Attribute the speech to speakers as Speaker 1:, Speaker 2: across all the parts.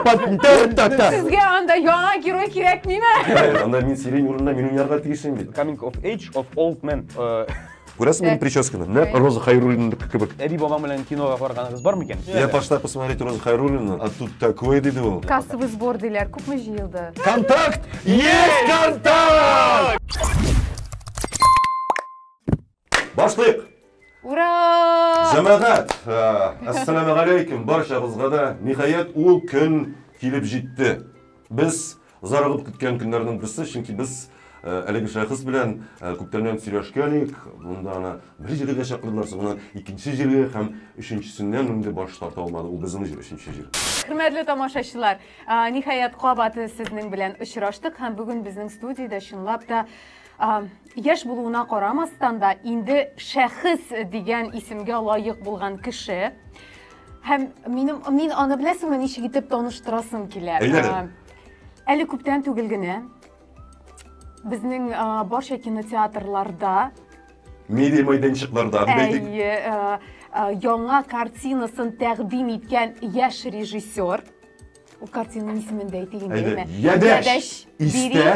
Speaker 1: Сезгә анда яңа герой кирәкмиме? Анда мин сирень
Speaker 2: урынына мин уйнарга тиешем бит. Coming of age of
Speaker 3: old man. Э, Күрәсең мин
Speaker 2: прическаны? Нәк Роза Хайруллинныкы кебек. Әби бабаң белән кинога
Speaker 3: барганыгыз бар микән? Я пошла посмотреть
Speaker 2: Роза Хайруллина, а тут такое диде ул. Кассовый сбор диләр,
Speaker 1: күпме җыелды? Контакт!
Speaker 2: Есть контакт! Башлыйк! Ура!
Speaker 1: Җәмәгать,
Speaker 2: әссәламу алейкум баршагызга да. Ниһаять ул көн килеп җитте. Без зарыгып көткән көннәрнең берсе, чөнки без әлеге шәхес белән күптәннән сөйләшкән идек. Монда аны бер җиргә чакырдылар, соңыннан икенче җиргә һәм өченчесеннән инде баш тарта алмады. Ул безнең җир, өченче җир. Хөрмәтле тамашачылар,
Speaker 1: ниһаять кабат сезнең белән очраштык һәм бүген безнең студиядә чынлап та Яшь булуына карамастан да, инде шәхес дигән исемгә лаек булган кеше. Һәм минем мин аны беләсеңме ничек итеп таныштырасым килә. Әйләнем. Әле күптән түгел генә безнең барча кинотеатрларда
Speaker 2: медиа мәйданчыкларда әйе э, э,
Speaker 1: яңа картинасын тәкъдим иткән яшь режиссер ул картинаның исемен дә әйтик инде әйдә ядәш
Speaker 2: истә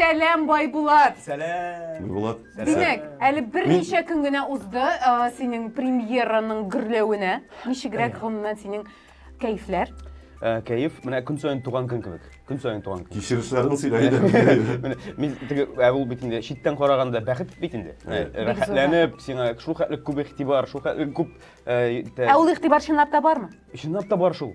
Speaker 1: Сәлам, Байбулат! Сәлам! Байбулат!
Speaker 3: Димәк,
Speaker 2: әле
Speaker 1: берничә көн генә узды синең премьераның гөрләвенә. Ничегрәк гомумән синең кәефләр? Э, кәеф,
Speaker 3: менә көн саен туган көн кебек. Көн саен туган көн. Кичерешләрен сөйлә
Speaker 2: иде. Мин теге
Speaker 3: ә ул бит инде читтән караганда бәхет бит инде. Э, рәхәтләнеп, сиңа шул хәтле күп игътибар, шул хәтле күп э, Ә ул
Speaker 1: игътибар чынлап та бармы? Чынлап та бар шул.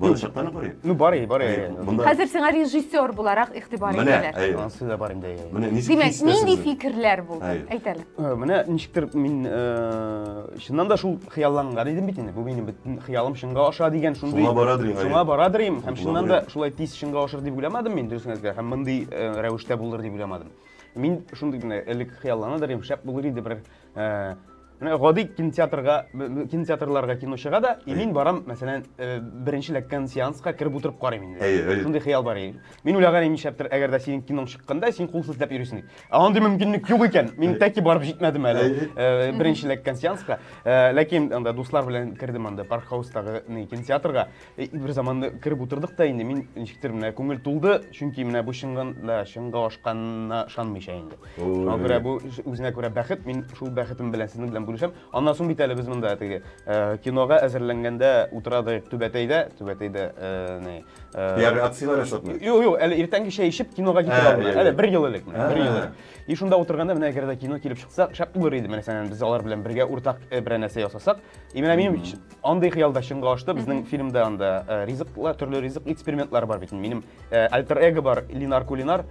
Speaker 2: Бу чакта бар иде. Ну бар иде, бар иде.
Speaker 3: Хәзер сиңа
Speaker 1: режиссер буларак игътибар итәләр. Менә, ансы да бар инде. Менә
Speaker 3: ничек Димәк, нинди
Speaker 1: фикерләр булды? Әйтәле. Э, менә ничектер
Speaker 3: мин э, чыннан да шул хыялланган идем бит инде. Бу минем бөтен хыялым чынга аша дигән шундый. Шуңа барадыр инде. Шуңа барадыр инде. Һәм чыннан да шулай тиз чынга ашыр дип уйламадым мин дөресен әйтергә. Һәм мондый э, рәвештә булыр дип уйламадым. Мин шундый генә элек хыялланадыр идем, шәп булыр иде бер Ә, менә гади кинотеатрга, кинотеатрларга кино чыга да, и мин барам, мәсәлән, э, беренче ләккән сеанска кереп утырып карыйм инде. Әйе, әйе. Шундый хыял бар иде. Мин уйлаган идем, нишләптер, әгәр дә синең киноң чыкканда, син кул селтәп йөрисең дип. Ә андый мөмкинлек юк икән. Мин тәки барып җитмәдем әле Әйе. э, беренче ләккән сеанска. Э, Ләкин анда дуслар белән кердем анда парк хаустагы не, кинотеатрга. Э, бер заманда кереп утырдык та инде мин ничектер менә күңел тулды чөнки менә бу чынга чынга ашканына ышанмыйча инде шуңа күрә бу үзенә күрә бәхет мин шул бәхетем белән сезнең белән бүлешәм аннан соң бит әле без монда теге э, кинога әзерләнгәндә утырадык түбәтәйдә түбәтәйдә э,
Speaker 2: ягъни акцияләр ясатмый юк юк әле иртәнге чәй
Speaker 3: эчеп кинога китеп ә, алдым әле бер ел элек бер ел элек и шунда утырганда менә әгәр дә кино килеп чыкса шәп булыр иде менә сәнән без алар белән бергә уртак берәр нәрсә ясасак и менә минем Андый хыял да чынга ашты. Безнең фильмда анда э, ризыклар, төрле ризык экспериментлары бар бит. Минем э, альтер эго бар, Линар Кулинар.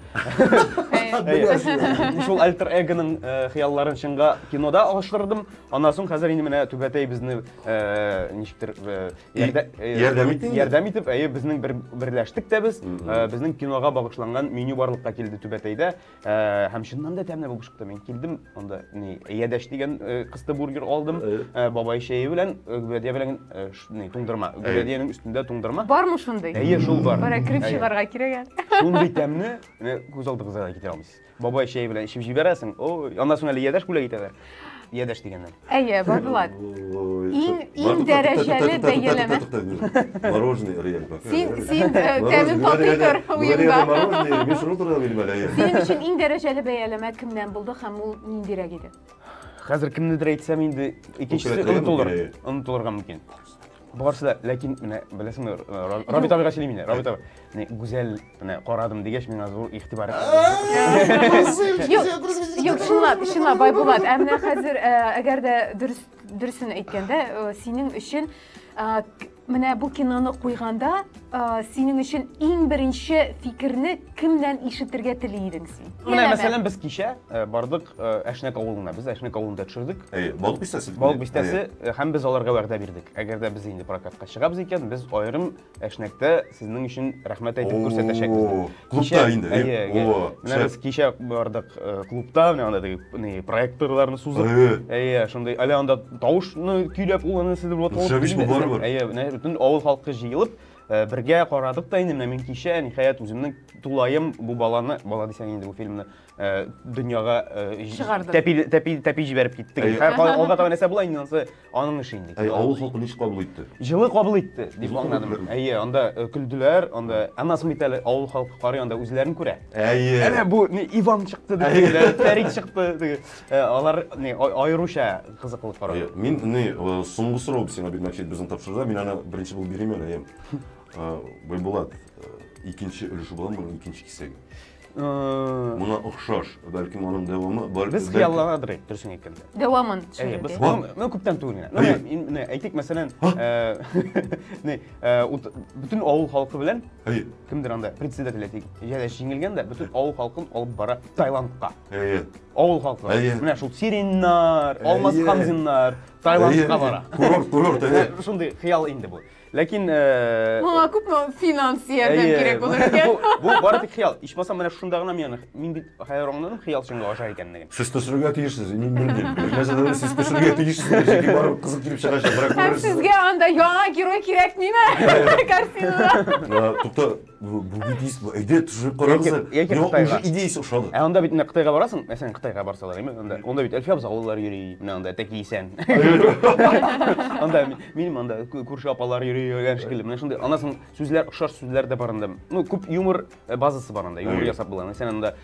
Speaker 3: Әйе. Шул альтер эгоның э, хыялларын чынга кинода ашырдым. Аннан соң хәзер инде менә Түбәтәй безне э, ничектер э, ярдә- э, ярдәм итте инде? Ярдәм итеп, әйе, безнең бер берләштек тә без. Э, Безнең кинога багышланган меню барлыкка килде Түбәтәйдә. Э, һәм чыннан да тәмле булып чыкты мин килдем анда не ядәш дигән э, кысты бургер алдым э, бабай чәе белән гүбәдия белән не туңдырма гүбәдиянең өстендә туңдырма бармы шундый әйе
Speaker 1: шул бар бара кереп
Speaker 3: чыгарга кирәк
Speaker 1: әле шундый тәмне
Speaker 3: күз алдыгызга да китерә алмыйсыз бабай чәе белән эчеп җибәрәсең ой аннан соң әле ядәш бүләк итәләр Ядәш дигәннәр. Әйе, Булат.
Speaker 1: Иң иң дәрәҗәле бәяләмә. Мороженое
Speaker 2: реаль бак. Син син э,
Speaker 1: тәмен татый тор уенда. Мороженое, мин шуны турында
Speaker 2: белмим әле. Синең өчен иң дәрәҗәле
Speaker 1: бәяләмә кемнән булды һәм ул ниндирәк иде?
Speaker 3: Хәзер кемнедер
Speaker 1: әйтсәм
Speaker 3: инде икенчесе онытылыр.
Speaker 1: Онытылырга
Speaker 3: мөмкин. Барысы да, ләкин менә беләсеңме, Рабит абыйга сөйлим инде. Рабит абый, менә гүзәл, менә карадым дигәч, миңа зур игътибар.
Speaker 1: Юк, чынлап, чынлап Байбулат, ә менә хәзер, әгәр дә дөрес дөресен әйткәндә, синең өчен менә бу киноны куйганда, синең өчен иң беренче фикерне кемнән ишетергә тели идең? Менә Менә мәсәлән без кичә
Speaker 3: э, бардык э, Әшнәк авылына. Без Әшнәк авылында төшердек. Әйе, балык бистәсе. Балык
Speaker 2: бистәсе э,
Speaker 3: һәм без аларга вәгъдә бирдек. Әгәр дә без инде прокатка чыгабыз икән, без аерым Әшнәктә сезнең өчен рәхмәт әйтеп күрсәтәчәкбез. О, дип. клубта Кичә- инде, э?
Speaker 2: Әйе, әйе. О, Менә шәп. без
Speaker 3: кичә бардык э, клубта, менә анда теге не, проекторларны сузып. Әйе. Әйе, шундый әле анда тавышны көйләп ул аны сидер булып. Шәбиш бу барыбер. Әйе, менә бөтен авыл халкы җыелып, Э, бергә карадык та инде менә мин кичә ниһаять үземнең тулаем бу баланы бала дисәң инде бу фильмны э, дөньяга э, Чыгарды. тәпи тәпи тәпи җибәреп киттек Әй. Һәр кай- алга таба нәрсә була инде анысы аның эше инде Әй, авыл халкы ничек кабул
Speaker 2: итте? җылы кабул итте
Speaker 3: дип Җылы аңладым кабул әйе анда э, көлделәр анда аннан соң бит әле авыл халкы карый анда үзләрен күрә Әйе. Әнә бу не, Иван чыкты, дигәннәр, Фәрит чыкты. диген. Э, алар не аеруча кызыклы карар. Э, мин не э,
Speaker 2: соңгы сорау сиңа бит мәчет безне тапшырда, мин аны беренче булып бирим әле, әйем. Байбулат, икенче өлеше буламы моның икенче кисәге? Мына охшаш, бәлкем аның дәвамы бар. Без хыялланадыр әйт,
Speaker 3: дөресен әйткәндә. Дәвамын төшерде. Без
Speaker 1: ну
Speaker 3: күптән түгел генә. Әйтик, мәсәлән, не бөтен авыл халкы белән кемдер анда председатель әйтик, җәләш җиңелгән дә бөтен авыл халкын алып бара Таиландка. Әйе. Авыл халкы. Әйе. Менә шул Сириннар, Алмаз Әйе. Хамзиннар, Таиландка бара. Курорт, курорт, әйе.
Speaker 2: Шундый хыял
Speaker 3: инде бу. Ләкин э, Моңа
Speaker 1: күпме финанс ярдәм әйе, кирәк булыр бу- икән? Бу бары тик хыял.
Speaker 3: Ичмасам менә шунда гына мин мин бит хәер аңладым хыял чынга аша икәнлеген. Сез төшерергә тиешсез,
Speaker 2: мин белмим. Нәрсәдер сез төшерергә тиешсез, чөнки барып кызык килеп чыгачак, берәр Һәм күрерсез. сезгә анда
Speaker 1: яңа герой кирәкмиме? Картинада. Ә, Тукта,
Speaker 2: бүге тиз әйдә төшереп карагыз яки уже идеясы ошады ә анда бит менә кытайга барасың
Speaker 3: мәсәлән кытайга барсалар әйме анда анда бит әлфи абзалылар йөри менә анда тәки исән анда минем анда күрше апалар йөри дигән шикелле менә шундый аннан соң сүзләр охшаш сүзләр дә бар анда ну күп юмор базасы бар анда юмор ясап була мәсәлән анда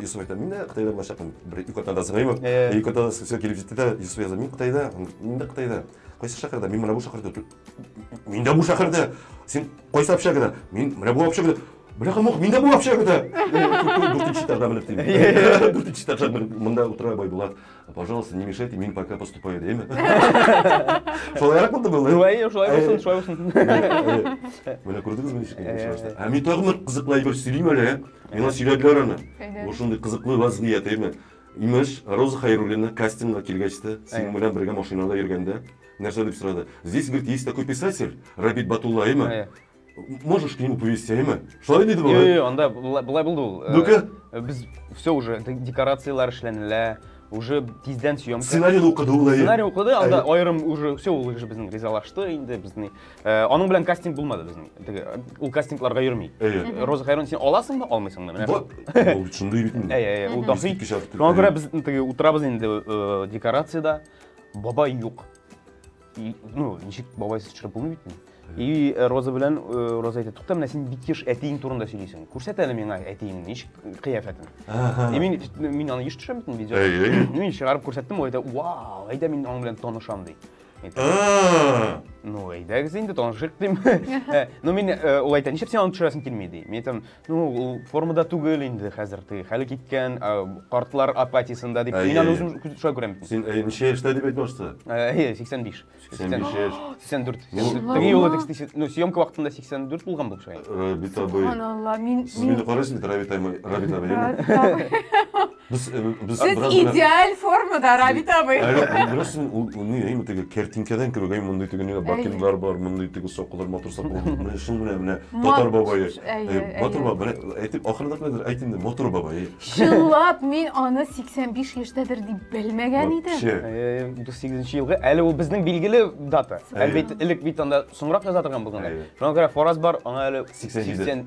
Speaker 2: Юсуф әйтә, мин дә Кытайда булачакмын. Бер ике атнада сыңай бу. Ике атнада сиңа килеп җитте дә, Юсуф яза, мин Кытайда, мин дә Кытайда. Кайсы шәһәрдә? Мин менә бу шәһәрдә тор. Мин дә бу шәһәрдә. Син кайсы общагада? Мин менә бу общагада. Бляха мух, мин дә бу общагада. Дүртенче этажда менеп дим. Дүртенче этажда менеп монда утыра Байбулат. Пожалуйста, не мешайте, мин пока поступаю дим. Шулайрак булды бу. Шулай, шулай булсын, шулай
Speaker 3: булсын.
Speaker 2: Менә күрдегезме ничек? Ә мин тагын кызыклы әйбер сөйлим әле. Миңа сөйләделәр аны. Бу шундый кызыклы вазгыять, әйме? Имеш, Роза Хайруллина кастингка килгәч тә, синең белән бергә машинада йөргәндә, нәрсә дип сорады? Здесь, говорит, есть такой писатель, Рабит Батулла, әйме? Можешь к нему повести, әйме? Шулай диде була? Юк, анда булай булды
Speaker 3: ул. Ну-ка. Без
Speaker 2: все
Speaker 3: уже декорацияләр эшләнелә уже тиздән съемка сценарийны укыды ул сценарий
Speaker 2: укыды анда
Speaker 3: аерым уже все ул уже безнең ризалашты инде безнең Э, аның белән кастинг булмады безнең. Теге ул кастингларга йөрми. Роза Хайрон син аласыңмы, алмыйсыңмы? Менә вот. Ул шундый бит
Speaker 2: инде. Әйе, әйе, ул дахи. Шуңа
Speaker 3: күрә без теге утырабыз инде э, декорациядә. Бабай юк. Ну, ничек бабай сез чыгып булмый бит. И э, Роза белән Роза әйтә, тукта, менә син бик еш әтиең турында сөйлисең. Күрсәт әле миңа әтиең ничек кыяфәтен. И мин мин аны еш төшәм бит видео. Мин чыгарып күрсәттем, ул әйтә, "Вау, әйдә мин аның белән танышам" ди. ну әйдәгез инде танышыйк дим э, ну мин э, ул әйтә нишләп син аны төшерәсең килми ди мин әйтәм ну ул формада түгел инде хәзер теге хәле киткән э, картлар апатиясында дип мин аны үзем шулай күрәм син ничә яшьтә дип
Speaker 2: әйтеп башта әйе сиксән биш
Speaker 3: сиксән биш яшь сиксән дүрт теге юлы тексте ну съемка вакытында сиксән дүрт булган булып чыга рабит абый
Speaker 2: мин сез
Speaker 1: мине карайсыз бит
Speaker 2: рабит абый Без, э, без Сез бераз гына-
Speaker 1: идеаль формада, Равит абый. Әле ул беләсен, ул
Speaker 2: ул ни, әйме теге картинкадан кебек, әй мондый теге нигә бакенлар бар, мондый теге сакаллар матур сакал. Менә шул менә менә татар бабае. Әйе, Әй, Матур әйе. баба, менә әйтеп ахырда кадәр әйт инде, матур баба. әй. Чынлап мин
Speaker 1: аны 85 яшьтәдер дип белмәгән идем. Вообще. Э, 38 елгы.
Speaker 3: Әле ул безнең билгеле дата. Әйе. Әлбәттә, элек бит анда соңрак яза торган булган. Әйе.
Speaker 2: Шуңа
Speaker 3: күрә фараз бар, аңа әле 87. 80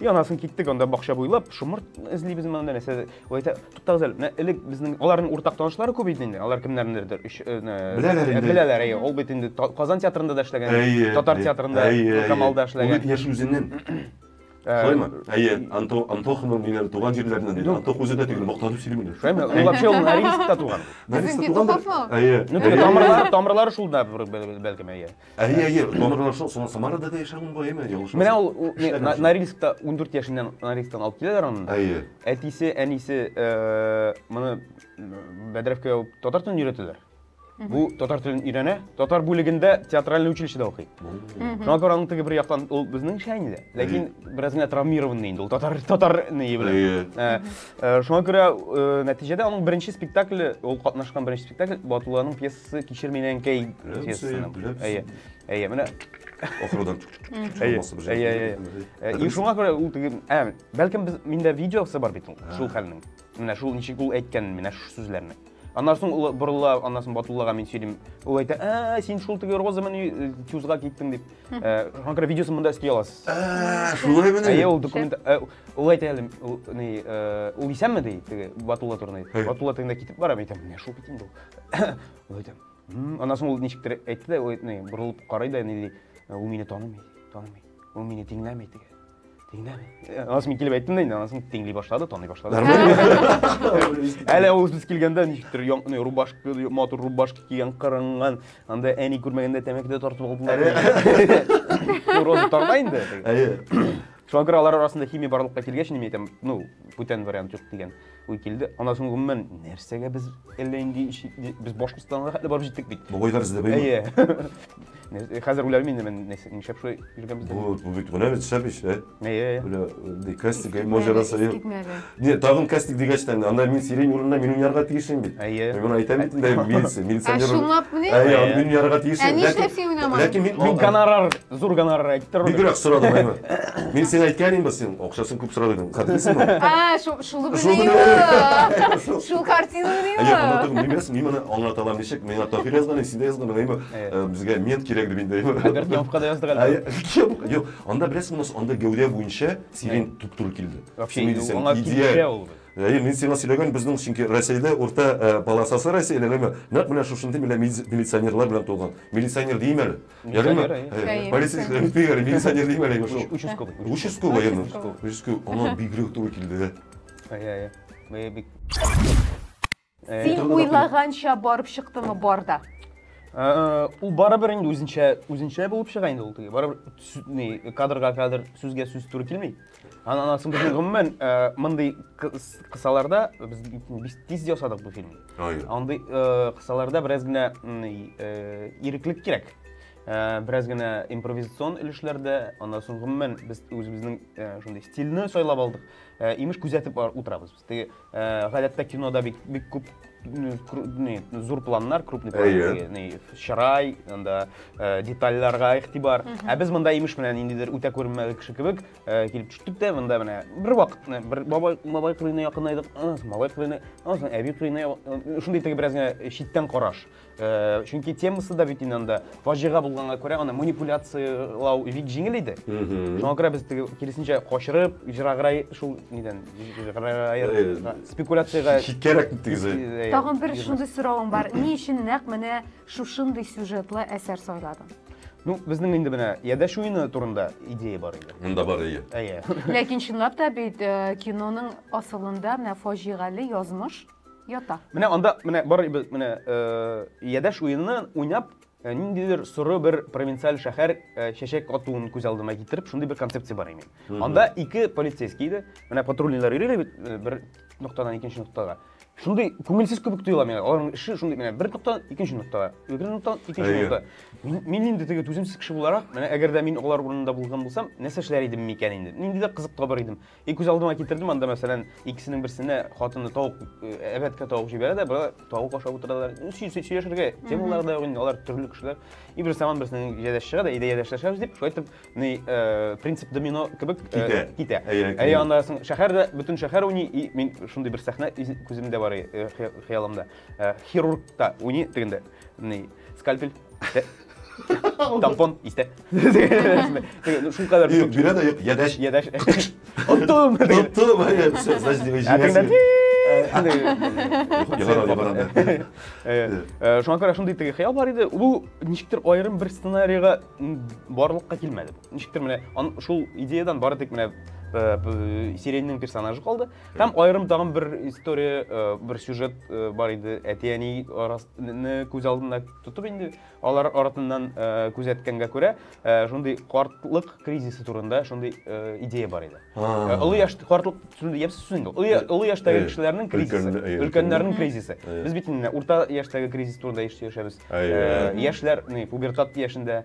Speaker 3: И анасын киттек анда бакча буйлап, шомырт эзлибез ме анда нәрсә. Ул әйтә, туктагыз әле, менә элек безнең аларның уртак танышлары күп иде инде. Алар кемнәрнедер өч э, Беләләр инде. Беләләр, әйе. Ул бит инде Казан театрында да эшләгән, әйе, татар театрында, Камалда эшләгән. Ул яшь үзеннән.
Speaker 2: Э, Шулаймы? Әйе, Анто, Антоханың дигән туган җирләреннән ди. Антох үзе дә түгел, мактанып сөйли менә. Шулаймы? Ул вообще ул
Speaker 3: Норильскта туган. Норильскта туган.
Speaker 2: Әйе. Ну, тамырлары,
Speaker 3: тамырлары шул да бәлкем әйе. Әйе, әйе, донордан
Speaker 2: шул соң Самарада да яшәгән бу, әйме, ялгышмасам. Менә ул ул- не, На-
Speaker 3: Норильскта 14 яшеннән Норильсктан алып киләләр аны. Әйе. Әтисе,
Speaker 2: әнисе
Speaker 3: э, моны м, Бәдрәфкә алып татар телен өйрәтәләр. Бу татар телен өйрәнә, татар бүлегендә театральный училищеда укый. Шуңа күрә аның теге бер яктан ул безнеңчә инде, ләкин бераз генә травмированный инде ул татар татар ни белән. Әйе. Ә, э, Шуңа күрә э, нәтиҗәдә аның беренче спектакле, ул катнашкан беренче спектакль Батулланың пьесасы Сы кишер менен кей. Әйе. Әйе, менә ахырдан
Speaker 2: чыгмасы
Speaker 3: бер. Әйе, әйе. И шуңа күрә ул теге, ә, бәлкем без миндә видеосы бар бит ул, шул хәлнең. Менә шул ничек ул әйткән менә шу сүзләрне. Аннан соң ул борыла, аннан соң Батуллага мин сөйлим. Ул әйтә, "Ә, син шул теге Роза менен чузга киттең" дип. Э, шуңа күрә видеосын монда өсти аласыз. Ә, шулай менә.
Speaker 2: Әйе, ул документ
Speaker 3: ул әйтә әле, ул ни, ул исәнме ди, теге Батулла турында. Батулла тегендә китеп бара, әйтәм, "Менә шул бит инде ул". аннан соң ул ничектер әйтте дә борылып карый да нили ул мине танымый танымый ул мине тиңләми теге тиңләми аннан соң мин килеп әйттем да инде аннан соң тиңли башлады таный башлады әле ул үз килгәндә ничектер рубашка матур рубашка кигән кырынган анда әни күрмәгәндә тәмәке дә тартып алдылар роза тарта инде шуңа күрә алар арасында химия барлыкка килгәч мин әйтәм ну бүтән вариант юк дигән Ой килде. Ана соң гомумән нәрсәгә без әллә инде без Башкортстанга хәтле барып җиттек бит. Бугайлар эзләп баймы?
Speaker 2: Әйе.
Speaker 3: Хәзер үләм инде мин нишләп шулай йөргән без. Бу бу бит гүләр
Speaker 2: төшәп ич, ә? Әйе. Үлә
Speaker 3: кастик
Speaker 2: можера саю. Не, тагын кастик дигәч тә анда мин сирень урынына мин уйнарга тиешем бит. Әйе. Мин әйтәм бит инде милиция, милиционер. Ә шуңлап менә? Әйе,
Speaker 1: мин уйнарга тиешем.
Speaker 2: Ә нишләп син уйнамадың? Ләкин мин
Speaker 1: гонорар
Speaker 2: Зур
Speaker 3: гонорар әйтеп тора. Бигрәк сорады Мәймә.
Speaker 2: Мин сиңа әйткән инде син акчасын күп сорады идең. Хәтерлисең аны? А, шул
Speaker 1: шул белән. Шул картина белән. Әйе, аны түгел, мин
Speaker 2: бирәсем, мин моны аңлата алам ничек? Миңа Таһир язган, син дә язган, әйме? Э, безгә мент кирәк дип инде. Альберт Неовка
Speaker 3: да яздык әле. Юк, анда
Speaker 2: беләсең, анда гәүдә буенча сирень туп-туры килде. Вообще, аңа
Speaker 3: идея ул. Әйе, мин сиңа сөйләгән
Speaker 2: безнең чөнки Рәсәйдә урта э, полосасы Рәсәйдә, әйме? Нәкъ менә шушындый милиционерлар белән тулган. Милиционер димәле. Ярый ма? Полицейский бит бигәр, милиционер дим әле шул. Участковый.
Speaker 3: Участковый,
Speaker 2: әйе. Участковый. Аңа бигрәк туры килде дә. Әйе, әйе.
Speaker 3: Бәя бик.
Speaker 1: Син уйлаганча барып чыктымы барда?
Speaker 3: Ул барыбер инде үзенчә, үзенчә булып чыга инде ул теге. Барыбер кадрга кадр, сүзгә сүз туры килми. Анасы без гомумән э, мондый кысаларда без без тиз ясадык бу фильмны. Андый э, кысаларда бераз генә э, иреклек кирәк. Бераз генә импровизацион өлешләрдә, аннан соң гомумән без үзебезнең шундый стильне сайлап алдык. Имеш күзәтеп утырабыз. Теге, ә, гадәттә кинода бик, бик күп м, кру- не, зур планнар, крупный план, Әйе. теге, не, чырай, анда ә, детальләргә игътибар. Ә без монда имеш менә ниндидер үтә күренмәле кеше кебек ә, килеп төштек тә монда менә бер вакыт менә бер бабай бабай кырыена якынайдык, аннан соң малай кырыена, аннан соң әби кырыена, я- шундый теге бераз генә читтән караш. Э, чөнки темасы да бит инде анда фаҗига булганга күрә аны манипуляциялау бик җиңел иде шуңа күрә без теге киресенчә качырып җыраграй шул нидән э, спекуляциягә читкәрәк э,
Speaker 2: тагын бер шундый
Speaker 1: соравым бар ни өчен нәкъ менә шушындый сюжетлы әсәр сайладың Ну, безнең
Speaker 3: инде менә ядәш уены турында идея бар иде. Монда бар идея. Әйе.
Speaker 2: Ләкин
Speaker 3: чынлап та
Speaker 1: бит э, киноның асылында менә фаҗигале язмыш Ята. Менә анда менә
Speaker 3: бар менә э, ядәш уены уйнап э, ниндидер соры бер провинциаль шәһәр э, чәчәк атуын күз алдыма китереп, шундый бер концепция бар имен. Анда ике полицейский иде. Менә патрульныйлар йөри бит бер ноктадан икенче ноктага. Шундый күңелсез кебек тоела миңа. Аларның эше шундый менә бер ноктадан икенче ноктага, икенче ноктадан икенче ноктага. Мин инде теге түземсез кеше буларак, менә әгәр дә мин алар урынында булган булсам, нәрсә эшләр идем микән инде? Нинди дә кызык табар идем. И күз алдыма китердем анда мәсәлән икесенең берсенә хатыны тавык э, әбәткә тавык җибәрә дә бара тавык ашап утыралар ну, сөйләшергә темалар да инде алар төрле кешеләр и бер заман берсенең ядәш чыга да иде ядәшләшәбез дип шулай итеп ни э, принцип домино кебек э, китә китә әйе анда соң шәһәр дә бөтен шәһәр уйный и мин шундый бер сәхнә күземдә бар хыялымда хирург та уйный тегендә ни скальпель тампон истә шул кадәр бирә дә юк ядәш
Speaker 2: ядәш оттым
Speaker 3: оттым шуңа күрә шундый теге хыял бар иде бу ничектер аерым бер сценарийга барлыкка килмәде ничектер менә шул идеядан бары тик менә сиреньнең персонажы калды Һәм аерым тагын бер история, э, бер сюжет э, бар иде. Әти-әни арасыны күз алдына тотып инде, алар арасыннан э, күзәткәнгә күрә, шундый картлык кризисы турында шундый идея бар иде. Олы яшь картлык шундый япс сүз инде. Олы яшьтәге кешеләрнең кризисы, өлкәннәрнең кризисы. Без бит инде урта яшьтәге кризис турында яшәбез. Яшьләр, пубертат яшендә,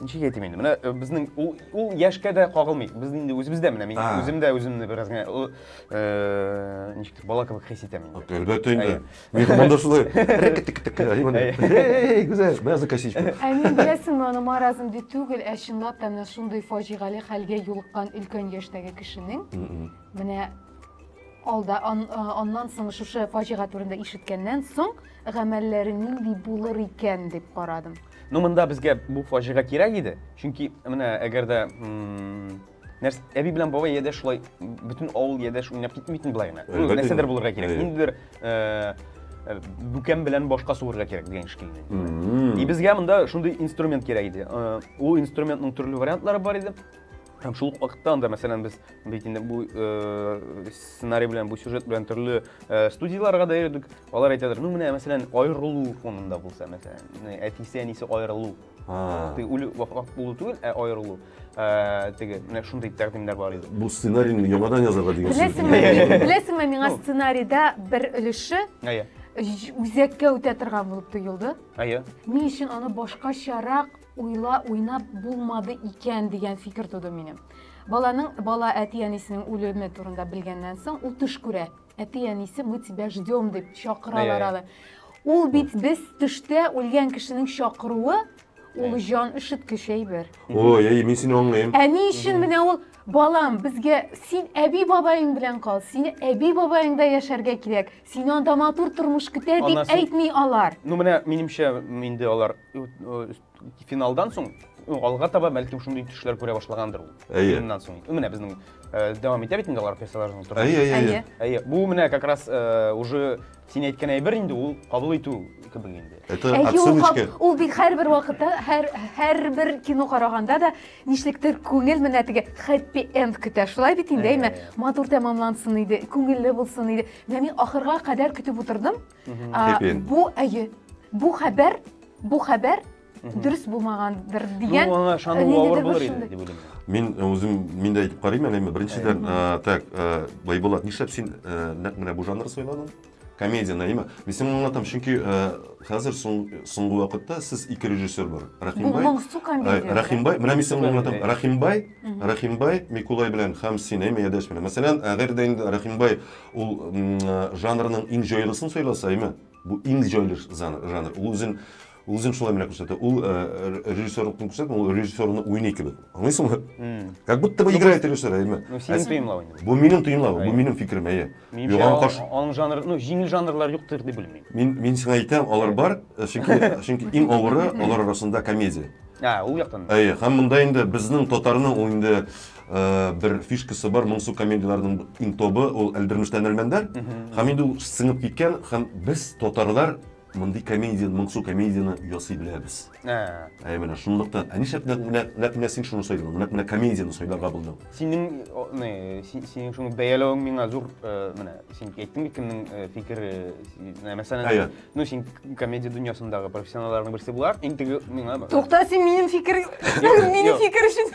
Speaker 3: ничек әйтим инде менә э, безнең ул ул яшькә дә кагылмый без инде үзебез дә менә мин А. үзем дә үземне бераз генә ы, э, ничектер бала кебек хис итәм инде Әлбәттә инде. Әйе.
Speaker 2: Мин монда шулай. Рәкетекетек. Эй, гүзәл, мә за косичку. Ә мин беләсеңме,
Speaker 1: аны маразм дип түгел, ә чынлап та менә шундый фаҗигале хәлгә юлыккан өлкән яшьтәге кешенең М-м. менә алда ан, а, аннан соң шушы фаҗига турында ишеткәннән соң гамәлләре нинди булыр икән дип карадым. Ну монда безгә
Speaker 3: бу фаҗига кирәк иде, чөнки менә әгәр дә нәрсә әби белән бабай яде шулай бөтен авыл яде уйнап китми бит болай гына. Нәрсәдер булырга кирәк. Ниндидер э, э, бүкән белән башка суырырга кирәк дигән шикелле. И безгә монда шундый инструмент кирәк иде. Э, ул инструментның төрле вариантлары бар иде. Һәм шул ук вакытта анда, мәсәлән, без бит инде бу э, сценарий белән, бу сюжет белән төрле э, студияләргә дә йөрдек. Алар әйтәдер, ну менә, мәсәлән, аерылу фонында булса, мәсәлән, менә әтисе, әнисе аерылу. А, Теге үле вафат булу түгел, ә аерылу. Э, Теге, менә шундый тәкъдимнәр бар иде. Бу сценарийны яңадан
Speaker 2: язарга дигән сүз. Беләсеңме, Иә, иә, иә. беләсеңме, миңа Ну.
Speaker 1: сценарийда бер өлеше Әйе, ү- үзәккә үтә торган булып тоелды. әйе. Ни өчен аны башкачарак Уйла уйнап булмады икән дигән фикер туды минем. Баланың бала әти-әнисенең үлеме турында белгәннән соң ул төш күрә. Әти-әнисе мы тебя ждем дип чакыралар аны. Ул бит без төштә үлгән кешенең чакыруы ул җан өшеткеч әйбер. Ой, әй, мин сине
Speaker 2: аңлыйм. Ә ни өчен менә ул
Speaker 1: балам, безгә син әби-бабаең белән кал, сине әби-бабаеңда яшәргә кирәк. Сине анда матур тормыш көтә дип Аннан соң- әйтми алар. Ну менә минемчә
Speaker 3: м, инде алар э, э, финалдан соң ну, алга таба бәлкем шундый төшләр күрә башлагандыр ул. Әйе. Финнан соң. Ну, Менә безнең э, дәвам итә бит инде алар персонажның тормышы. Әйе, әйе, әйе. Әйе. Әйе, бу менә как раз э, уже син әйткән әйбер инде ул кабул итү кебек инде. Это Әйе, ул, отсылочка. кап-
Speaker 2: ул бит һәрбер
Speaker 1: вакытта, һәр, һәрбер кино караганда да Нишлектер күңел менә теге хэппи энд көтә. Шулай бит инде, әйме? Матур тәмамлансын иде, күңелле булсын иде. Менә мин ахырга кадәр көтеп утырдым. Бу әйе. Бу хәбәр, бу хәбәр дөрес булмагандыр дигән. Ну, аңа ышану авыр
Speaker 3: булыр иде, дип уйлыйм. Мин үзем
Speaker 2: мин дә әйтеп карыйм әле, әйме? Беренчедән, так, Байбулат, нишләп син нәкъ менә бу жанр сайладың? Комедия наима. Мин сиңа аңлатам, чөнки хәзер соңгы вакытта сез ике режиссер бар. Рәхимбай. Бу моңсу комедия. Рәхимбай, менә мин сиңа аңлатам. Рәхимбай, Рәхимбай, Микулай белән һәм син, әйме, Ядәш белән. Мәсәлән, әгәр дә инде Рәхимбай ул жанрның иң җайлысын сайласа, әйме, бу иң җайлы жанр. Ул үзен Үзең шулай менә күрсәтә. Ул э, режиссерлыкны күрсәтә, ул режиссерны уйный кебек. Аңлыйсыңмы? Как будто бы играет режиссер, әйме? Ну, синең тоемлау инде.
Speaker 3: Бу минем тоемлау, бу минем
Speaker 2: фикерем, әйе. Юган каш. Аның
Speaker 3: жанры, ну, җиңел жанрлар юктыр дип белмим. Мин мин сиңа әйтәм, алар
Speaker 2: бар, э, чөнки чөнки иң авыры алар арасында комедия. А, ул яктан.
Speaker 3: Әйе, һәм монда инде
Speaker 2: безнең татарның ул инде э, бер фишкасы бар, моңсу комедияләрнең иң тобы, ул Әлдермештән Әлмәндәр. Һәм инде ул сыңып киткән, һәм без татарлар Мондый комедия, моңсу комедияне ясый беләбез. Ә. Әй менә шунлыктан, ә нишләп нәкъ менә нәкъ менә син шуны сайладың? Нәкъ менә комедияне сайларга булдың. Синең о, не,
Speaker 3: си- синең шуны бәяләвең миңа зур, э, менә, син әйттең бит кемнең э, фикере, си- менә, мәсәлән, Әйе. ну син к- комедия дөньясындагы профессионалларның берсе булар, иң теге миңа. Тукта, син минем
Speaker 1: фикер, Юк, минем юк. фикер өчен.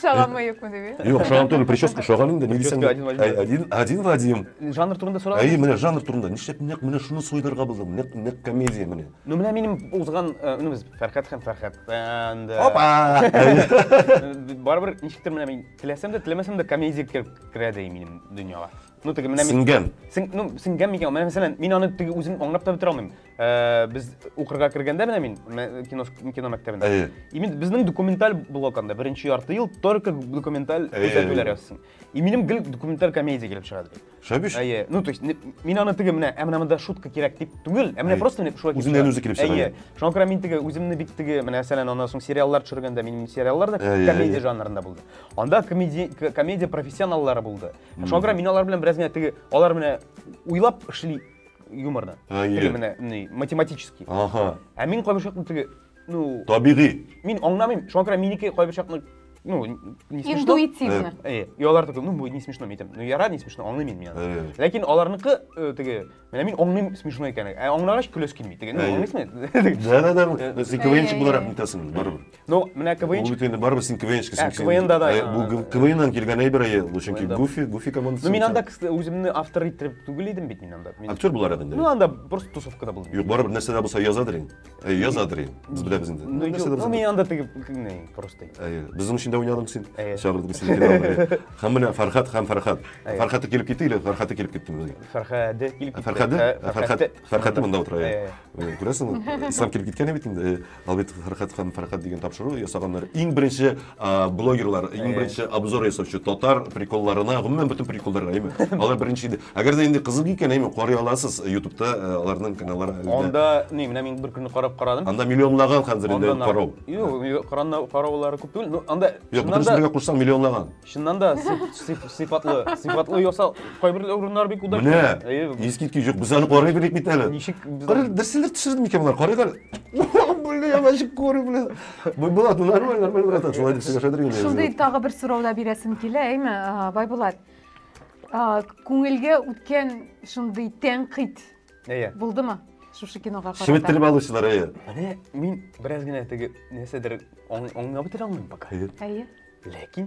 Speaker 1: Шагам ма юкмы дип. Юк, шагам түгел, прическа
Speaker 2: шагам инде. Ни дисәң? Один, один в один. Жанр турында сорау. Әй,
Speaker 3: менә жанр турында. Нишләп
Speaker 2: нәкъ менә шуны сойдырга булдым? Нәкъ нәкъ комедия менә. Ну менә минем узган,
Speaker 3: ну без Фәрхәт һәм Фәрхәт. Опа! Барыбер ничектер менә мин теләсәм дә, теләмәсәм дә комедия керә дә минем дөньяга. Ну, теге менә Сеңгән. Син, ну, сеңгән микән? Менә мәсәлән, мин аны теге үзем аңлап та бетерә алмыйм. Э, без укырга кергәндә менә мин кино кино мәктәбендә. Әйе. И мин безнең документаль блок анда беренче ярты ел только документаль күрсәтүләр язсын. И минем гел документаль комедия килеп чыга ди. Шәбиш? Әйе. Ну, то есть мин аны теге менә, ә менә монда шутка кирәк дип түгел, ә менә просто менә шулай. Үзеннән үзе килеп чыга. Әйе.
Speaker 2: Шуңа күрә мин теге
Speaker 3: үземне бик теге менә мәсәлән, аннан соң сериаллар төшергәндә минем сериаллар да комедия жанрында булды. Анда комедия комедия профессионаллары булды. Шуңа күрә мин алар белән бераз генә теге, алар менә уйлап эшли юморны. Теге менә ни, математический. Ага. Ә мин
Speaker 2: кайбер чакны теге,
Speaker 3: ну... Табигый. Мин
Speaker 2: аңламыйм, шуңа
Speaker 3: күрә минеке кайбер чакны ну, не смешно. Интуитивно. Э,
Speaker 1: э, и алар такой, ну,
Speaker 3: будет не смешно, митем. Ну, я рад, не смешно, он имеет меня. Э. Ләкин аларныкы, э, теге, Менә мин аңлыйм смешной икәнен. Ә аңлагач көләс килми. Теге, ну, аңлыйсыңмы? Да, да, да. Э,
Speaker 2: син КВНчик буларак нитәсең барыбер. Ну, менә КВНчик.
Speaker 3: Ул бит инде барыбер син
Speaker 2: КВНчик. Ә, КВНда да. Э, бу
Speaker 3: КВНнан килгән
Speaker 2: әйбер әйе. Ул чөнки Гуфи, Гуфи командасы. Ну, мин анда үземне
Speaker 3: автор иттереп түгел идем бит мин анда. Актер буларак инде. Ну, анда
Speaker 2: просто тусовкада
Speaker 3: булдым. Юк, барыбер нәрсә дә булса
Speaker 2: язадыр инде. Әйе, яза дри. Без беләбез инде. Ну, Нәрсә дә без ну, инде. мин анда теге
Speaker 3: кеңнәй, простый. Әйе, безнең өчен дә
Speaker 2: уйнадың син. Әйе. Чагырдык без сине килә алмый. Һәм менә Фәрхәт һәм Фәрхәт. Әйе. Фәрхәте килеп китте или Фәрхәте килеп китте безгә? Фәрхәде килеп китте.
Speaker 3: Фәрхәде? Фә- Фәрхәт, Фәрхәте монда утыра. Әйе.
Speaker 2: әйе. Менә Күрәсеңме? Ислам килеп киткән бит инде. Ә, Албит Фәрхәт һәм Фәрхәт дигән тапшыру ясаганнар. Иң беренче блогерлар иң беренче обзор ясаучы татар приколларына гомумән бөтен приколларга әйме алар беренче иде әгәр дә инде кызык икән әйме карый аласыз ютубта э, аларның каналлары анда не менә мин
Speaker 3: бер көнне карап карадым анда миллионлаган хәзер
Speaker 2: инде карау юк
Speaker 3: караулары күп түгел ну анда юк бөтен бергә кушсаң
Speaker 2: миллионлаган чыннан да
Speaker 3: сыйфатлы сыйфатлы ясал кайбер урыннар бик удачно менә искиткеч
Speaker 2: юк без аны карый белик бит әле ничек дөрселдер
Speaker 3: төшердем
Speaker 2: икән болар карыйк әле Бля, я вообще курю, бля. Байбулат, ну нормально, нормально, братан, Владик, тебя шадрин. Шундый тагы бер сорау да
Speaker 1: бирәсем килә, әйме, Байбулат. Күңелгә үткән шундый тәнкыйть булдымы? Шушы кинога карата. Шеметтереп алучылар, әйе.
Speaker 2: Менә мин
Speaker 3: бераз генә теге нәрсәдер аңлап бетерә алмыйм пока. Әйе.
Speaker 1: Ләкин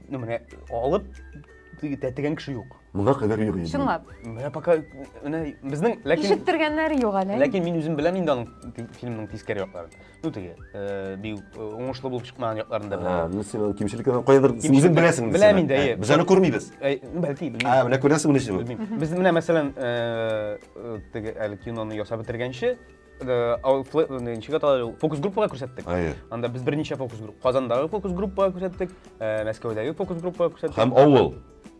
Speaker 3: Ну, менә алып тәтегән кеше юк. Моңа кадәр юк инде.
Speaker 2: Чынлап. Менә пока
Speaker 3: менә безнең ләкин Ишеттергәннәре
Speaker 1: юк әле. Ләкин мин үзем беләм инде
Speaker 3: аның фильмның тискәре якларын. Ну теге, э, бик э, уңышлы булып чыкмаган якларын да беләм. Ну син аның кимчелекләрен
Speaker 2: кайбер үзең беләсең. Беләм инде, әйе. Без аны
Speaker 3: күрмибез.
Speaker 2: Бәлки белмим. А,
Speaker 3: менә күрәсең менә шуны.
Speaker 2: Без менә мәсәлән,
Speaker 3: э, теге әле киноны ясап бетергәнче Э, ничек аталар ул фокус группага күрсәттек анда без берничә фокус групп казандагы фокус группага күрсәттек э, мәскәүдәге фокус группага күрсәттек һәм авыл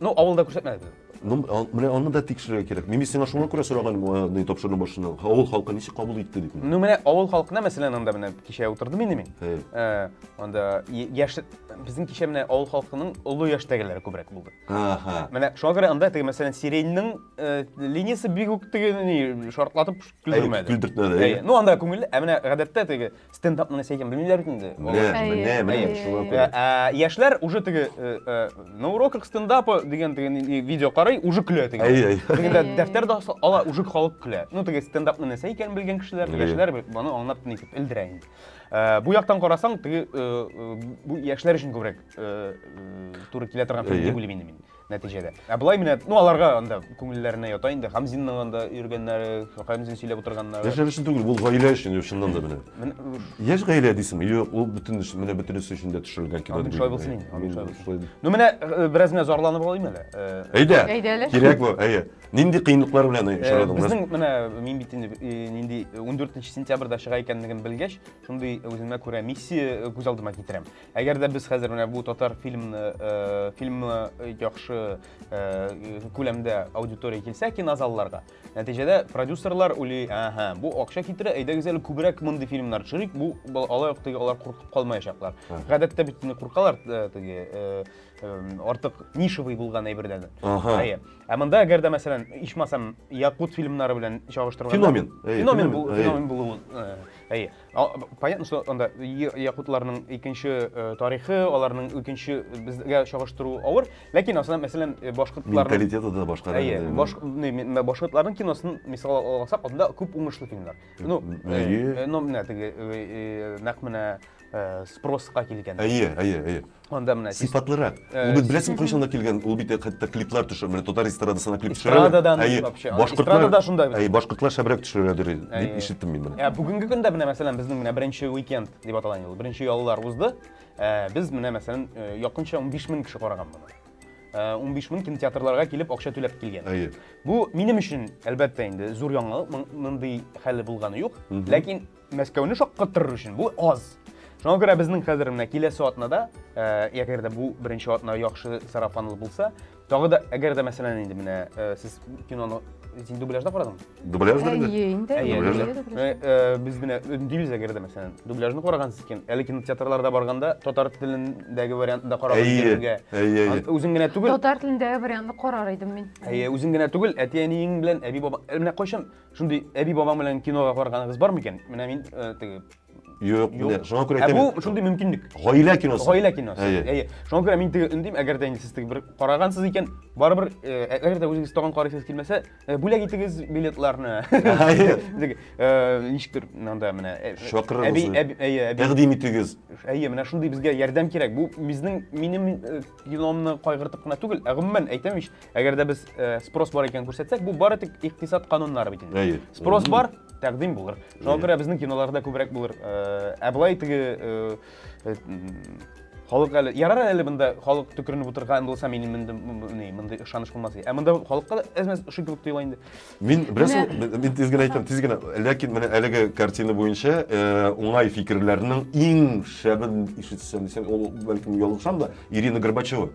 Speaker 2: ну авылда күрсәтмәдек
Speaker 3: ну менә
Speaker 2: аны да тикшерергә кирәк мин сиңа шуңа күрә сораган э, тапшыруның башында авыл халкы ничек кабул итте дип ну менә авыл халкына
Speaker 3: мәсәлән анда менә кичә утырдым инде мин анда яшь безнең кичә менә авыл халкының олы яшьтәгеләре күбрәк булды менә шуңа күрә анда теге мәсәлән сиреньнең линиясе бик үк теге шартлатып Күлдермәде. Күлдертмәде. Әйе. Ну анда
Speaker 2: күңелле. Ә менә
Speaker 3: гадәттә теге стендап менә сәйгән белмиләр бит инде. Менә, менә, менә шуңа күрә. Ә яшьләр уже теге э, э, на уроках стендапа
Speaker 2: дигән теге
Speaker 3: видео карый, уже көлә теге. Әйе, әйе. Тегендә дәфтәр дә ала, уже халык көлә. Ну теге стендап менә сәйгән белгән кешеләр, яшьләр моны аңлап нитеп элдерә инде. Э, бу яктан карасаң, теге бу яшьләр өчен күбрәк туры килә торган фикер дип уйлыйм инде мин. нәтиҗәдә. Ә болай менә, ну аларга анда күңелләренә ята инде. Хамзинның анда йөргәннәре, Хамзин сөйләп утырганнары. Яшьләр өчен түгел, ул гаилә
Speaker 2: өчен, юк, чыннан да менә. Яшь гаилә дисеңме? Юк, ул бөтен менә бөтенесе өчен дә төшерелгән кино. Андый шулай булсын инде, андый шулай
Speaker 3: булсын. Ну менә бераз менә зарланып алыйм әле. Әйдә. Әйдә әле.
Speaker 2: Кирәк бу, әйе. Нинди кыенлыклар белән очрадың? Безнең менә мин
Speaker 3: бит инде нинди 14 сентябрьдә чыга икәнлеген белгәч, шундый үземә күрә миссия күз алдыма китерәм. Әгәр дә без хәзер менә бу татар фильмны, э, фильмы яхшы э, күләмдә аудитория килсә кинозалларга, нәтиҗәдә продюсерлар уйлый, ага, бу акча китерә, әйдәгез әле күбрәк мондый фильмнар төшерик, бу алай ук теге алар куркып калмаячаклар. Гадәттә бит инде куркалар э, теге э, э, артык нишевый булган әйбердән. Ага. Әйе. Ә монда әгәр дә мәсәлән, ичмасам якут фильмнары белән чагыштырганда феномен. Феномен, феномен, феномен булуын. Әйе. Понятно, что анда якутларның икенче э, тарихы, аларның икенче э, безгә чагыштыру авыр, ләкин асына мәсәлән э, башкортларның менталитеты да башка. Әйе,
Speaker 2: баш
Speaker 3: башкортларның киносын мисал алсак, анда күп уңышлы фильмнар. Ну, әйе. Ну, менә теге нәкъ менә спроска килгән. Әйе, әйе, әйе. Анда менә сыйфатлырак. Ул бит
Speaker 2: беләсең кайчан да килгән, ул бит хәтта клиплар төшә, менә татар эстрадасына клип төшә. Эстрададан вообще. Эстрада да шунда. Әй, башкортлар шәбрәк төшерәдер дип ишеттем мин моны. Бүгенге көндә менә мәсәлән
Speaker 3: безнең менә беренче уикенд дип аталган ел, беренче яллар узды. Без менә мәсәлән якынча 15 мең кеше караган моны. 15 мең кинотеатрларга килеп акча түләп килгән. Әйе. Бу минем өчен әлбәттә инде зур яңалык, мондый хәле булганы юк. Ләкин Мәскәүне шаккаттырыр өчен бу аз. Шуңа күрә безнең хәзер менә киләсе атнада, э, әгәр дә бу беренче атна яхшы сарафанлы булса, тагы да әгәр дә мәсәлән инде менә э, сез киноны син дубляжда карадың? Дубляж да инде.
Speaker 2: инде. Э, э,
Speaker 3: без менә өндибез әгәр дә мәсәлән, дубляжны карагансыз икән, әле кинотеатрларда барганда татар телендәге вариантны да карагыз икәнгә. Әйе, әйе. Үзең генә түгел. Татар телендәге вариантны
Speaker 1: карар идем мин. Әйе, үзең генә түгел,
Speaker 3: әти-әниең белән әби-баба. Менә кайчан Шундый әби бабаң белән кинога барганыгыз бар микән? Менә мин э, теге Юк, менә
Speaker 2: шуңа күрә әйтәм. Ә бу шундый мөмкинлек.
Speaker 3: Гаилә киносы. Гаилә
Speaker 2: киносы. Әйе.
Speaker 3: Шуңа күрә мин теге өндим, әгәр дә инде сез теге бер карагансыз икән, барыбер э, ә- әгәр дә үзегез тагын карыйсыз килмәсә, э, бүләк итегез билетларны. Әйе. Теге, э, Ничектер монда менә. э, Чакырыгыз. Әби, әби, әйе, әби. Тәкъдим итегез. Әйе, менә шундый безгә ярдәм кирәк. Бу безнең минем э, киномны кайгыртып кына түгел, ә гомумән әйтәм ич, Әгәр дә без э, спрос бар икәнен күрсәтсәк, бу бары тик икътисад кануннары бит инде. Әйе. Спрос бар, тәкъдим булыр. Шуңа күрә безнең киноларда күбрәк булыр. Э, Ә былай теге э, э, халык әле ярар әле монда халык төкеренеп утырган булса, мин монда ни, мондый ышаныч булмас иде. Ә монда халыкка да әз-мәз ошый кебек тоела инде. Мин беләсең,
Speaker 2: мин- мин тиз генә әйтәм, тиз генә. Ләкин менә әлеге картина буенча э, уңай фикерләрнең иң шәбен ишетсәм дисәм, ул бәлкем ялгышам да, Ирина Горбачева.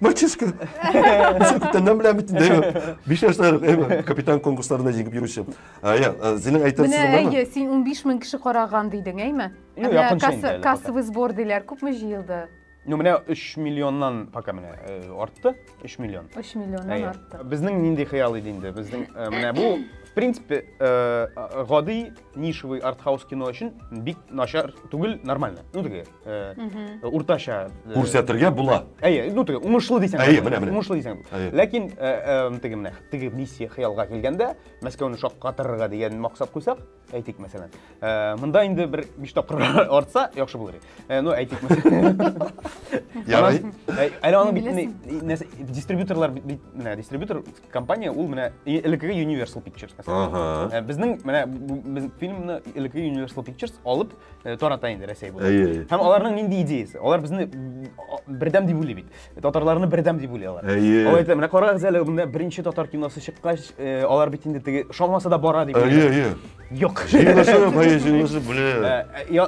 Speaker 3: Мальчишка!
Speaker 2: Ничек күптән дәм белән бит инде, әйме? Биш яшьләр, әйме? Капитан конкурсларында җиңеп йөрүче. Ә, я, ә, Зинең әйтер Менә сүзең бармы? әйе, син 15 мең кеше
Speaker 1: караган дидең, әйме? Юк, Менә якынча касса- инде әле пока. Кассовый сбор диләр, күпме җыелды? Ну, менә 3
Speaker 3: миллионнан пока менә э, артты. 3 миллион. 3 миллионнан Әйе. артты.
Speaker 1: Безнең нинди хыял иде
Speaker 3: инде? Безнең э, менә бу, в принципе, э, гади нишевый артхаус кино өчен бик начар түгел, нормально. Ну, теге э, уртача э, күрсәтергә
Speaker 2: була әйе ну теге уңышлы
Speaker 3: дисәң әйе менә менә уңышлы дисәң ләкин э, теге менә теге миссия хыялга килгәндә мәскәүне шаккатырырга дигән максат куйсак әйтик мәсәлән монда инде бер биш тапкыр артса яхшы булыр иде ну әйтик ярый
Speaker 2: әле аның
Speaker 3: бит дистрибьюторлар бит менә дистрибьютор компания ул менә элеккеге Universal Pictures мәсәлән. Ага. Э, безнең менә без фильмны элеккеге Universal Pictures алып э, тарата инде Рәсәй буйлап. Әйе. Һәм аларның нинди идеясы? Алар безне бердәм дип уйлый бит. Татарларны бердәм дип уйлый алар. Әйе. Алар әйтә, менә карагыз әле, монда беренче татар киносы чыккач, э, алар бит инде теге шамасы да бара дип. Әйе, әйе. Юк. Җиңүче, әйе, җиңүче,
Speaker 2: бля.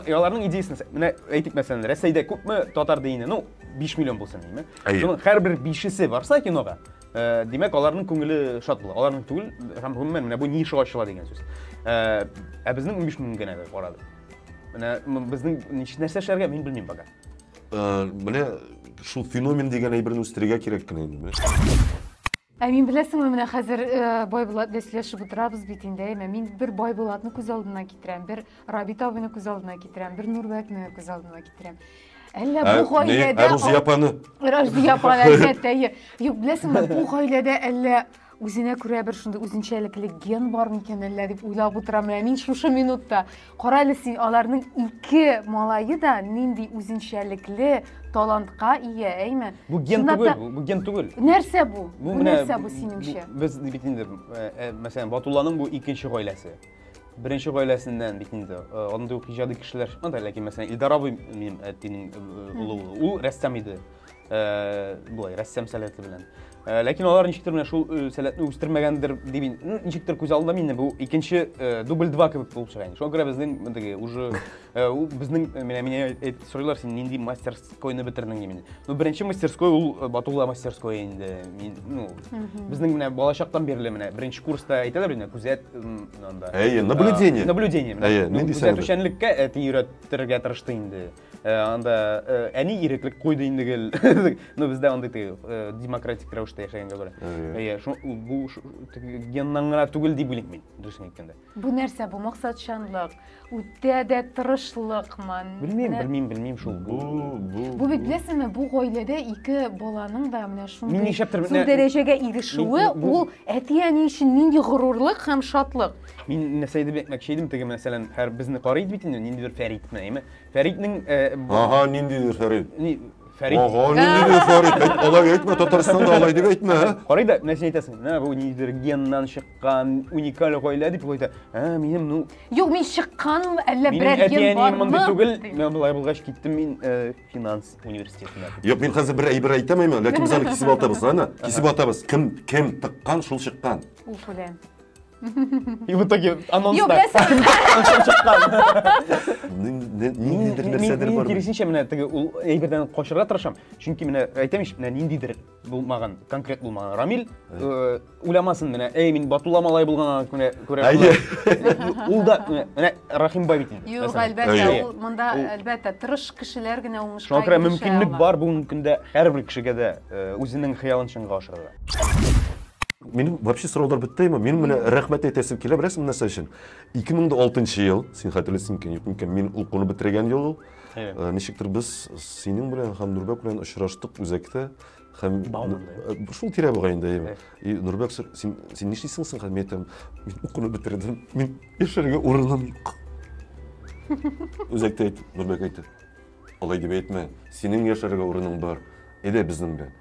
Speaker 2: Аларның идеясын,
Speaker 3: менә әйтик мәсәлән, Рәсәйдә күпме татар дине? Ну, 5 миллион булсын, димме? Шуның һәр бер 5 барса кинога, Э, димәк аларның күңеле шат була аларның түгел һәм гомумән менә бу ниша ачыла дигән сүз э, ә безнең унбиш мең генә бер карады менә безнең нәрсә эшләргә мин белмим пока э, менә
Speaker 2: шул феномен дигән әйберне үстерергә кирәк кенә инде ә
Speaker 1: мин беләсеңме менә хәзер байбулат белән сөйләшеп утырабыз бит инде әйме мин бер байбулатны күз алдына китерәм бер рабит абыйны күз алдына китерәм бер нурбәкне күз алдына китерәм Әллә бу гаиләдә Ә Рузия апаны?
Speaker 2: Рузия апаны
Speaker 1: әлбәттә. Юк, беләсеңме, бу гаиләдә әллә үзенә күрә бер шундый үзенчәлекле ген бар микән әллә дип уйлап утырам менә мин шушы минутта. Кара әле син, аларның ике малае да нинди үзенчәлекле талантка ия, әйме? Бу ген түгел,
Speaker 3: бу ген түгел. Нәрсә бу? Бу
Speaker 1: нәрсә бу синеңчә? Без бит инде,
Speaker 3: мәсәлән, Батулланың бу икенче гаиләсе. Беренче гаиләсеннән бит инде. Э, андый ук иҗади кешеләр чыкмады, ләкин мәсәлән Илдар абый минем әтинең э, э, улы улы. Ул рәссам иде. Болай рәссам сәләте белән. Ләкин алар ничектер менә шул сәләтне үстермәгәндер дип ничектер күз алдында мине бу икенче дубль 2 кебек булып чыга инде. Шуңа күрә безнең мондагы уже Э, ул безнең э, менә мине э, сорыйлар син нинди мастерскойны бетердең димен ну беренче мастерской ул батулла мастерской инде мин ну безнең менә балачактан бирле менә беренче курста әйтәләр инде күзәт анда әйе
Speaker 2: наблюдение наблюдение әйе
Speaker 3: нинди күзәтүчәнлеккә әти өйрәтергә тырышты инде анда әни иреклек куйды инде гел ну бездә андый демократик рәвештә яшәгәнгә күрә әйе бу геннан гына түгел дип уйлыйм мин дөресен әйткәндә Бу нәрсә, бу
Speaker 1: максатчанлык, үтә дә тырышлыкмын. Белмим, белмим, белмим
Speaker 3: шул. Бу, бу. Бу бит
Speaker 1: беләсеңме, бу гаиләдә ике баланың да менә шундый. Мин нишләптер менә
Speaker 3: дәрәҗәгә
Speaker 1: ирешүе, ул әти-әни өчен нинди горурлык һәм шатлык. Мин нәрсә дип
Speaker 3: әйтмәкче идем, теге мәсәлән, һәр безне карый бит инде, ниндидер Фәритне, әйме? Фәритнең Ага, ниндидер
Speaker 2: Фәрит. Фәрит. Ага,
Speaker 3: нинди дә
Speaker 2: Фәрит, әйт, алай әйтмә, Татарстанда алай дип әйтмә. ә? Карый да, менә син әйтәсең,
Speaker 3: менә бу нидер геннан чыккан, уникаль гаилә дип куйда. Ә, минем, ну, Юк, мин
Speaker 1: чыкканмы, әллә минем берәр ген әти-әнием бармы? мондый түгел, дим. мен болай
Speaker 3: булгач киттем мин э, финанс университетына. Юк, мин хәзер бер әйбер
Speaker 2: әйтәмәймен, ләкин без аны кисеп атабыз, әнә, кисеп атабыз. Кем, кем тыккан, шул чыккан. Уф, үләм.
Speaker 3: И в итоге анонста. Юк, нәрсә?
Speaker 2: Ниндидер нәрсәдер бар. Киресенчә менә теге ул
Speaker 3: әйбердән качырга тырышам. Чөнки менә әйтәм ич, менә ниндидер булмаган, конкрет булмаган. Рамил э, уйламасын менә, әй мин Батулла малай булганга күрә күрә. Ул да менә Рахимбай бит инде. Юк, әлбәттә, ул
Speaker 1: монда әлбәттә тырыш кешеләр генә уңышка. Шуңа күрә мөмкинлек бар
Speaker 3: бүгенге көндә һәрбер кешегә дә э, үзенең хыялын чынга ашырырга.
Speaker 2: Минем вообще сораулар бетте ме? Минем менә рәхмәт әйтәсем килә, беләсең нәрсә өчен? 2006 ел, син хәтерлисең микән, юк микән, мин укуны бетергән ел ул. Ә, ничектер без синең белән һәм Нурбәк белән очраштык үзәктә һәм э, шул тирә буга инде әйе и нурбәк син син нишлисең соң һәм әйтәм мин укуны бетердем мин яшәргә урыным юк үзәктә әйт нурбәк әйтте алай дип әйтмә синең яшәргә урының бар әйдә безнең белән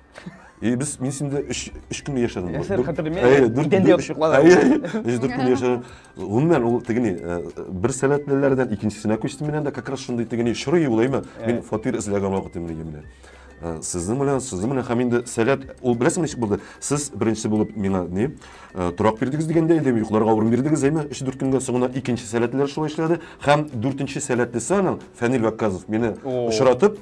Speaker 2: И без мин синдә 3 3 көн яшәдем. Яшәр
Speaker 3: хәтерләмим. Әйе, 4 көн яшәдем. Әйе, 3 4 көн яшәдем.
Speaker 2: Гомумән ул тегени э, бер сәләтлеләрдән икенчесенә күчтем мин анда как раз шундый тегени шырый улайма. Мин фатир эзләгән вакытым мин гомумән. Э, сезнең белән сезнең белән һәм инде сәләт ул беләсеңме ничек булды сез беренче булып миңа ни э, торак бирдегез дигәндә инде йокларга урын бирдегез әйме өч дүрт көнгә соңына икенче сәләтлеләр шулай эшләде һәм дүртенче сәләтлесе аның фәнил вәкказов мине очратып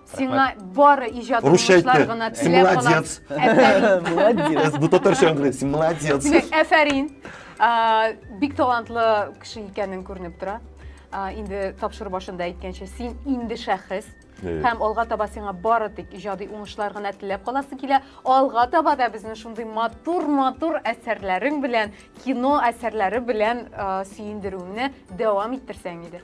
Speaker 1: Сиңа бары иҗат Русча уңышлар әйтте. гына Син теләп калам. молодец. Әфәрин. Молодец.
Speaker 2: Бу татарча аңгырый. Син молодец. Димәк, әфәрин.
Speaker 1: А, Бик талантлы кеше икәнең күренеп тора. А, Инде тапшыру башында әйткәнчә, син инде шәхес. Э. Һәм алга таба сиңа бары тик иҗади уңышлар гына теләп каласы килә. Алга таба да безне шундый матур-матур әсәрләрең белән, кино әсәрләре белән а, сөендерүеңне дәвам
Speaker 2: иттерсәң
Speaker 1: иде.